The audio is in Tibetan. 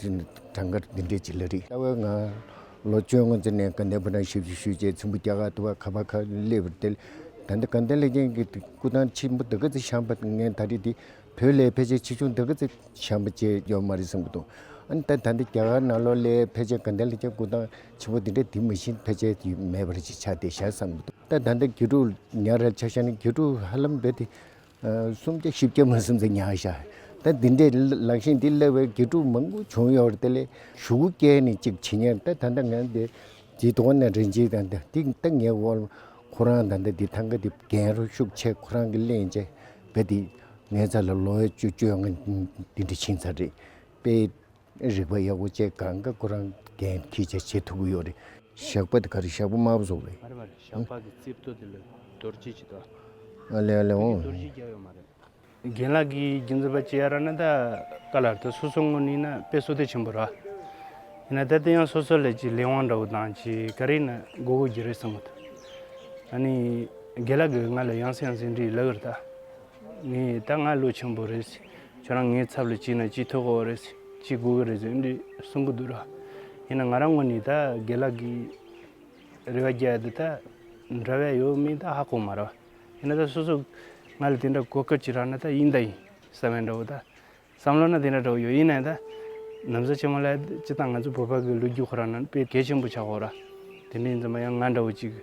གྲངས་ཀར་འདི་འདྲའི་བྱེད་ལ་རིགས་གསར་བའི་ངང་ལོ་བཅོ་ལྔ་འཛིན་ནས་དགའ་ལྡན་ཕོ་བྲང་ཞབས་ཞུ་ཞུས་རྗེས་ཚོན་པོ་སྐྱ་ཁ་ཐུ་བ་ཁ་བ་ཁ་སླེབས་པར་ཐལ། ད་ལྟ་དགའ་ལྡན་ལེགས་ལྡན་གྱི་སྐུ་ཐང་ཆེན་པོ་དར་ག་རྩེ་ཤང་པ་ངས་ད་རེས་འདི་བོད་ལྭའི་ཕལ་ཆེར་ཆེ་ཆུང་དར་ག་རྩེ་ཤང་པ་བཅས་ཡོད་མ་རེད་བསམ་གྱི་འདུག་ཨང་ད་ད་ལྟ་རྒྱ་གར་ནང་ལོ་ལྭའི་ཕལ་ཆེར་དགའ་ལྡན་ལེགས་ལྡན་སྐུ་ཐང་ཆེན་པོ་འདི་འདྲ་དེ་མ་བཞིན་ཕལ་ཆེར་ཡོད་མེད་པར་ཅིག་ཆ་དེ་བཞག་བསམ་གྱི་འདུག་ད་ད་ལྟ་དགེ་ཕྲུག་ཉག་རལ་ཆ་ཤང་ནི་དགེ་ཕྲུག་ཧ་ལམ་རྦད་དེ་སུམ་བརྒྱ་བཞི་བརྒྱ་མ་སུམ་ཚ་ཉག་བཞག་ད་འདི་འདྲའི་ལག་ཤེས་འདི་སླེ་བའི་དགེ་ཕྲུག་མང་པོ་བྱུང་ཡོད་རེད་ལེ་ཞུགས་སྐྱལ་ནས་ཅིག་བྱེད་ཉན་ད་ད་ད་ང་འདི་ཇི་དོག་ན་རེ་འཇིག་ད་ད་འདི་ད་ངས་དབོར་ཁོ་རང་ད་ད་འདི་ཐང་ག་འདི་རྒན་རོ་ཤུགས་ཆེ་ཁོ་རང་གི་གླེང་བྱས་ག་འདི་ངའི་ཚ་ལ་ལོ་བའི་བཅོ་བཅོ་ང་འདི་འདྲ་ཕྱིན་ཚར་རེད་པེ། རིག་པ་ཡག་པོ་བཅས་ག་རང་ག་གོ་རང་གན་ཐི་ཆ་བྱེད་ཐུབ་གི་ཡོད་རེད། ཞགས་པ་དེ་ག་རེད་ཞགས་པ་དམར་པོ་བཟོ་རེད། བར་བར་ཞགས་པ་གི་རྩིབ་ཐོ་དེ་ལ་རྡོ་རྗེ་བྱེད་ཐུབ། ཨ་ལེ་ཨ་ལེ་འོང། རྡོ་རྗེ་རྒྱག་ཡོད་མ་རེད། རྒན་ལགས་ཀྱིས་རྒྱུ་མཚན་པ་ཅི་ཡ་ར་ན་ད་ག་ལ་ར་ད་སོ་སོ་ངོ་ནི་ན་དཔེ་སོ་ཐེ་ཆེན་པོ་ར། ཡིན་ན་ད་དེ་ཡང་སོ་སོ་ལས་ཀྱི་ལས་དབང་འདྲ་བོ་དང་ཅི་ག་རེད་ན་མགོ་གོ་རྒྱུ་རེད་བསམ་མོ་ད། ཨ་ནི་རྒན་ལགས་ཀྱིས་ང་ལ་ཡང་སེ་ཡང་སེ་འདྲི་ཡི་ལ་གི་ར་ད། ངས་ད་ང་ལོ་ཆེན་པོ་རེད། ཁྱོད་རང་ངའི་ཚབ་ལ་བྱས་ན་ཅི་ཐོག་གོ་རེད། ཅི་དགོས་ཀི་རེད་ཟེར་འདྲི་གསུང་གི་འདུག་ར། ཡིན་ན་ང་རང་ངོ་ནས་ད་དགེ་ལགས་ཀྱི་རེ་བ་རྒྱལ་འདི་ད་འདྲ་བས་ཡོད་མིན་ད་ཧ་གོ་མ་ར། ཡིན་ན་ད་སོ་སོ་ང་ལ་དེ་འདྲ་གོ་སྐབས་ཅིག་རག་ན་ད་ཡིན་ད་ཡིན་ས་བོན་འདྲ་བོ་ད། བསམ་བློ་ན་དེ་འདྲ་འདྲ་བོ་ཡོད་ཡིན་ན་ད། ནམ་ཟ་ཆེན་མོ་ལ་ཅི་ད་ང་ཚོ་བོད་པ་གི་ལོ་རྒྱུས་ཁོ་རང་ན་དཔེ་གལ་ཆེན་པོ་ཆགས་གོ་ར། དེ་འདྲའི་འཛིན་པ་ཡང་ང་འདྲ་བོ་ཅིག་གི།